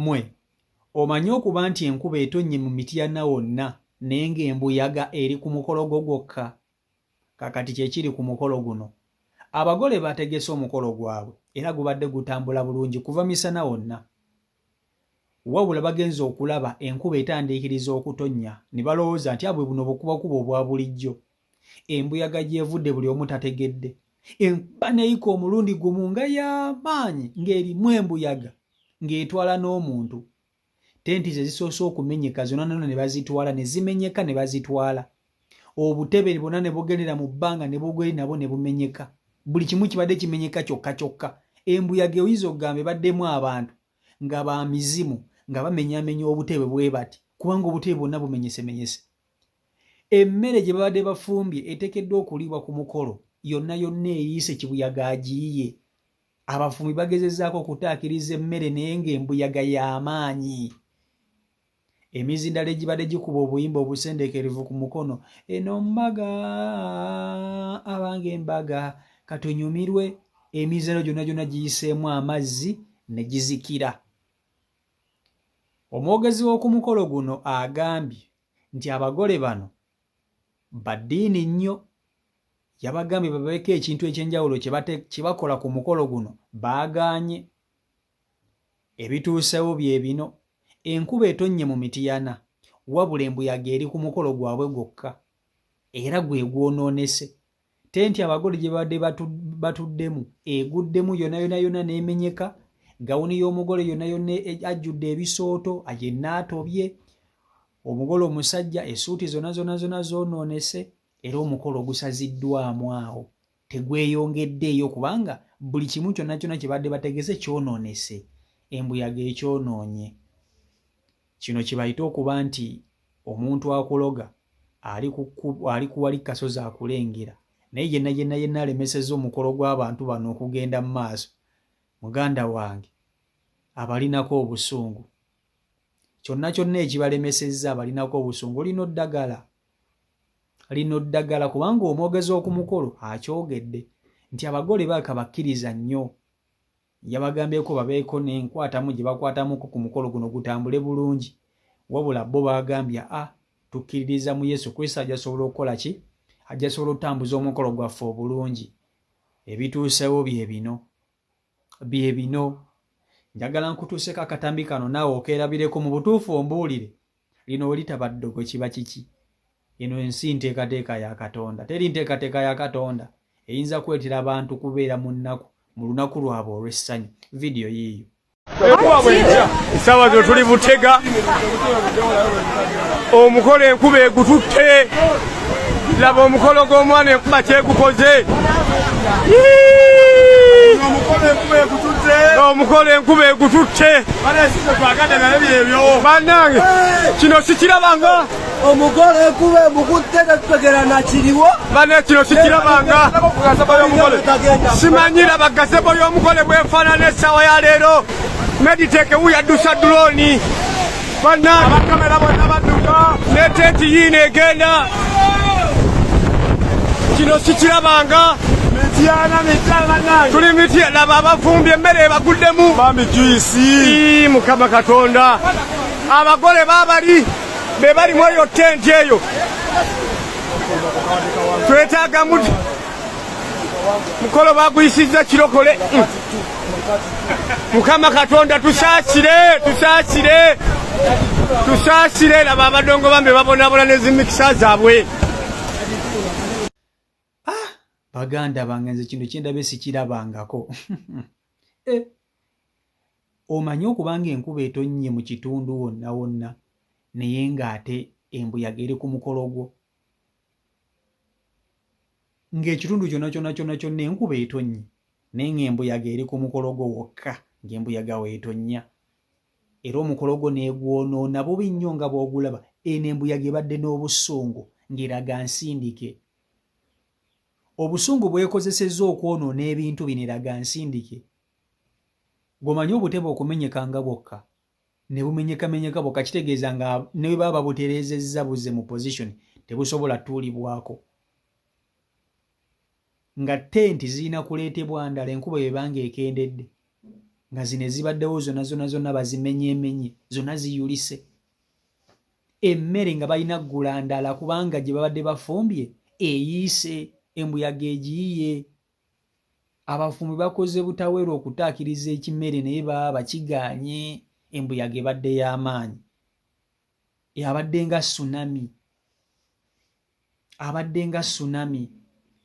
Mwe omanyi okuba nti enkuba etonnye mu mityana wonna naye ng'embuyaga eri ku mukolo gwo gwokka? Kakati kye kiri ku mukolo guno. Abagole bategese omukolo gwabwe era gubadde gutambula bulungi kuva misana wonna. Wabula bagenze okulaba enkuba etandiikiriza okutonnya ne balowooza nti abwe buno bukubakuba obwa bulijjo embuyaga gyevudde buli omu tategedde enkuba neyika omulundi gumu nga yamaanyi ng'erimu embuyaga ng'etwala n'omuntu tenti ze zisoose okumenyeka zonna nona ne bazitwala ne zimenyeka ne bazitwala obutebe bwonna ne bugendera mu bbanga ne bugeri nabwo ne bumenyeka buli kimu kibadde kimenyeka kyokka kyokka embuyaga oyinza okugamba ebaddemu abantu nga ba mizimu nga bamenyamenya obutebe bwe bati kubanga obutebe bwonna bumenyesemenyese emmere gye babadde bafumbye etekeddwa okuliibwa ku mukolo yonna yonna eyiise kibuyaga agiyiye abafumbi bagezezaako okutaakiriza emmere naye ng'embuyaga y'amaanyi emizindalo egibadde gikuba obuyimba obusendekerevu ku mukono eno mbaga abange embaga katunyumirwe emizindalo gyonna gyonna giyiseemu amazzi ne gizikira Omwogezi w'oku mukolo guno agambye nti abagole bano ba ddiini nnyo yabagambye babeeko ekintu ekyenjawulo kye bakola ku mukolo guno baagaanye ebituusewo bye bino enkuba etonnye mu mitiyana wabula embuyaga eri ku mukolo gwabwe gwokka era gwe gwonoonese tenti abagole gye babadde batuddemu eguddemu yona yona yona n'emenyeka gawuni y'omugole yona yona e, ajjudde ebisooto yenna atobye omugole omusajja esuuti zona zona zona zoonoonese era omukolo ogusaziddwamu awo tegweyongeddeeyo kubanga buli kimu kyonna kyonna kye badde bategese kyonoonese embuyaga ekyonoonye kino kibayite okuba nti omuntu akuloga ali kuwali kasozi akulengera naye yenna yenna yenna alemeseza omukolo gw'abantu bano okugenda mu maaso muganda wange abalinako obusungu kyonna kyonna ekibalemesezza abalinako obusungu olina oddagala lino ddagala kubanga omwogezi okumukolo akyogedde nti abagole baaka bakkiriza nnyo yabagambyeko babeeko nenkwatamu gye bakwatamuko ku mukolo guno gutambule bulungi wabula bo bagambye a ah, tukkiririza mu yesu kristo ajasobola okukola ki ajasobola okutambuza omukolo gwaffe obulungi ebituusewo bye bino bye bino njagala nkutuuseko akatambi kano naawe okeerabireko mu butuufu ombuulire lino olitaba ddogo kiba kiki eno ensi nteekateeka ya katonda teri nteekateeka ya katonda eyinza kuleetera abantu kubeera mu nnaku mu lunaku lwabwe olw'essanyu vidiyo yiiyo esaawa zino tuli butega omukola enkuba egututte laba omukolo gw'omwana enkuba kyegukoze omukolo enkuba egututte banange kino sikirabanga omugole kuba emukudde tetutegera nakiriwo bane kino sikirabanga simanyira bagasebo y'omugole bwefaanana essaawa ya leero mediteke wuyadusa dulooni Banna abakamera bonna badduka ne tenti yiino egenda kino sikirabanga tuli mitya laba abafumbye emmere ebaguddemu mukama katonda abagole babali be balimu eyo tenti eyo twetagamu mukolo baguyisizza kirokole mukama katonda tusaasire tusaasire tusaasire laba abadongo bambe babonabona nezimikisa zaabwe ah, baganda bange nze kintu kyendabe sikirabangako eh, omanyi okubanga enkuba etonnye mu kitundu wonna wonna naye ng'ate embuyaga eri ku mukolo gwo ng'ekitundu kyona kyona kyona kyonna enkuba etonnye naye ng'embuyaga eri ku mukolo gwo wokka ng'embuyaga weetonnya era omukolo gwo neegwonoona bubi nnyo nga bw'ogulaba eno embuyaga ebadde n'obusungu ng'eraga nsindike obusungu bwekozesezza okwonoona ebintu bino eraga nsindike gwomanyi obutebe okumenyeka nga bwokka ne bumenyekamenyeka bwokka kitegeeza nga ne bwe baba babutereezezza buze mu position tebusobola tuulibwako nga tenti zirina kuleetebwa ndala enkuba ebanga ekendedde nga zino ezibaddewo zona zona zonna bazimenyemenye zonna ziyulise emmere nga balina ggula ndala kubanga gye babadde bafumbye eyiise embuyaga egiyiye abafumbi bakoze butaweera okutaakiriza ekimere naye baba bakiganye embuyaga ebadde y'amaanyi abadde nga sunami abadde nga sunami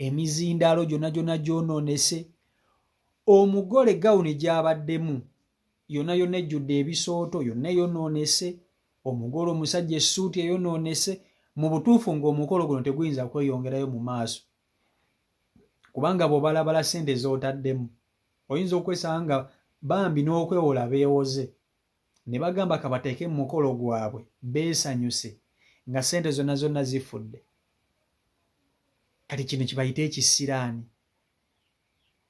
emizindaalo gyonna gyonna gyonoonese omugole gawuni gyabaddemu yonna yonna ejjudde ebisooto yonna eyonoonese omugole omusajja essuuti eyonoonese mu butuufu ng'omukolo guno teguyinza kweyongerayo mu maaso kubanga bwobalabala sente zotaddemu oyinza okwesanga nga bambi n'okwewola beewoze ne bagamba kabateeke mu mukolo gwabwe beesanyuse nga sente zonna zonna zifudde kati kino kibayite ekisiraani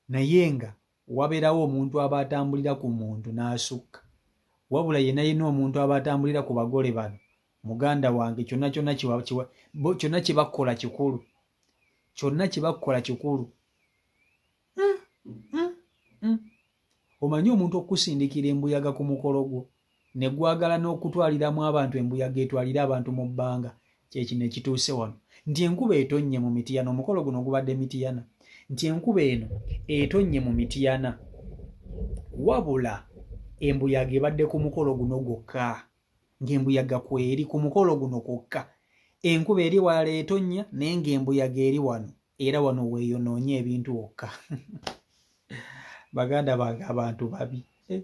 naye nga wabeerawo omuntu aba atambulira ku muntu n'asukka wabula yena yena omuntu aba atambulira ku bagole bano muganda wange kyonna kyonna kyonna kye bakola kikulu kyonna kye bakola kikulu hmm, hmm, hmm. omanyi omuntu okusindikira embuyaga ku mukolo gwo ne gwagala n'okutwaliramu abantu embuyaga etwalire abantu mu bbanga kyekino ekituuse wano nti enkuba etonnye mu mitiyana omukolo guno gubadde mitiyana nti enkuba eno etonnye mu mitiyana wabula embuyaga ebadde ku mukolo guno gwokka ng'embuyaga kweri ku mukolo guno kwokka enkuba eri walala etonnya naye ng'embuyaga eri wano era wano weeyonoonye ebintu wokka baganda bange abantu babi eh,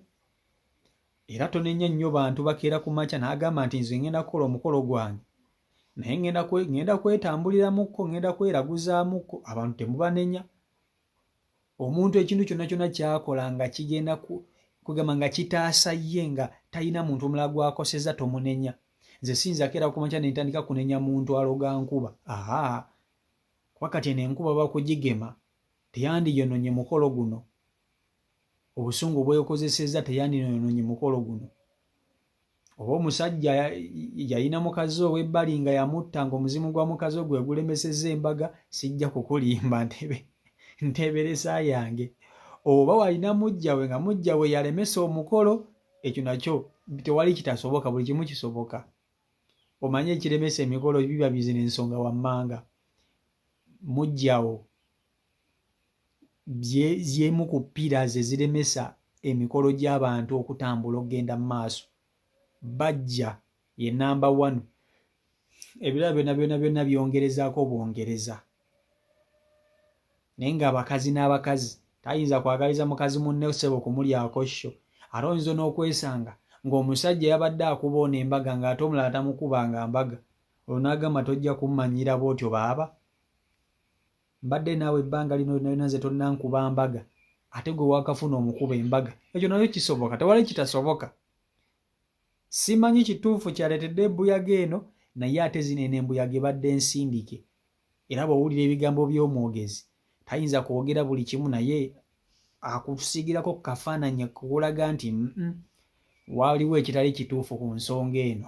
era tonenya nnyo bantu bakeera ku makya n'agamba nti nze ngenda kukola omukolo gwange naye ngenda kwetambuliramukko ngenda kweraguzaamukko abantu temubanenya omuntu ekintu kyonna kyonna kyakola nga kigenda kugamba nga kitaasa ye nga talina muntu omulala gwakoseza tomunenya nze siyinza keera ku makya nentandika kunenya muntu aloga nkuba aha kuba kati eno enkuba bakugigema teyandiyononye mukolo guno obusungu bwekozeseza teyandinoononye mukolo guno oba omusajja yalina mukazi owebbali nga yamutta nga omuzimu gwa mukazi ogwe gulemeseza embaga sijja kukulimba ntebe nteberesa yange oba walina mujjawe nga mujjawe yalemesa omukolo ekyo nakyo tewali kitasoboka buli kimu kisoboka omanye ekiremesa emikolo biba bizina ensonga wammanga mujjawo y'emu ku ppiira ze ziremesa emikolo gy'abantu okutambula okugenda mu maaso bajja ye namba one ebirala byona byona byona byongerezaako bwongereza naye nga abakazi n'abakazi tayinza kwagaliza mukazi munne sebo kumulyako sho ate oyinza n'okwesanga ng'omusajja yabadde akuba ono embaga ng'ate omulala tamukubanga mbaga olwo n'agamba tojja kummanyira bwotyo baaba mbadde naawe ebbanga lino lyonayona nze tonnankuba mbaga ate gwe wakafuna omukuba embaga ekyo nayo kisoboka tewali kitasoboka simanyi kituufu kyaleetedde embuyaga eno naye ate zino eno embuyaga ebadde nsindike era bwowulira ebigambo by'omwogezi tayinza kwogera buli kimu naye akusiigirako ku kafaananyi kukulaga nti waliwo ekitali kituufu ku nsonga eno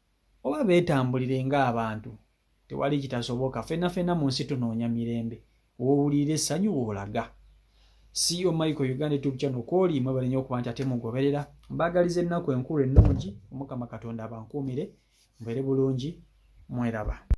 oba beetambulire ng'abantu tewali kitasoboka fena fena mu nsi tunoonya mirembe wowulira essanyu woolaga siyo e michael uganda tube channel kwoli mwebale nyo okuba nti ate mugoberera mbaagaliza ennaku enkulu ennungi omukama katonda abankuumire mbeere bulungi mweraba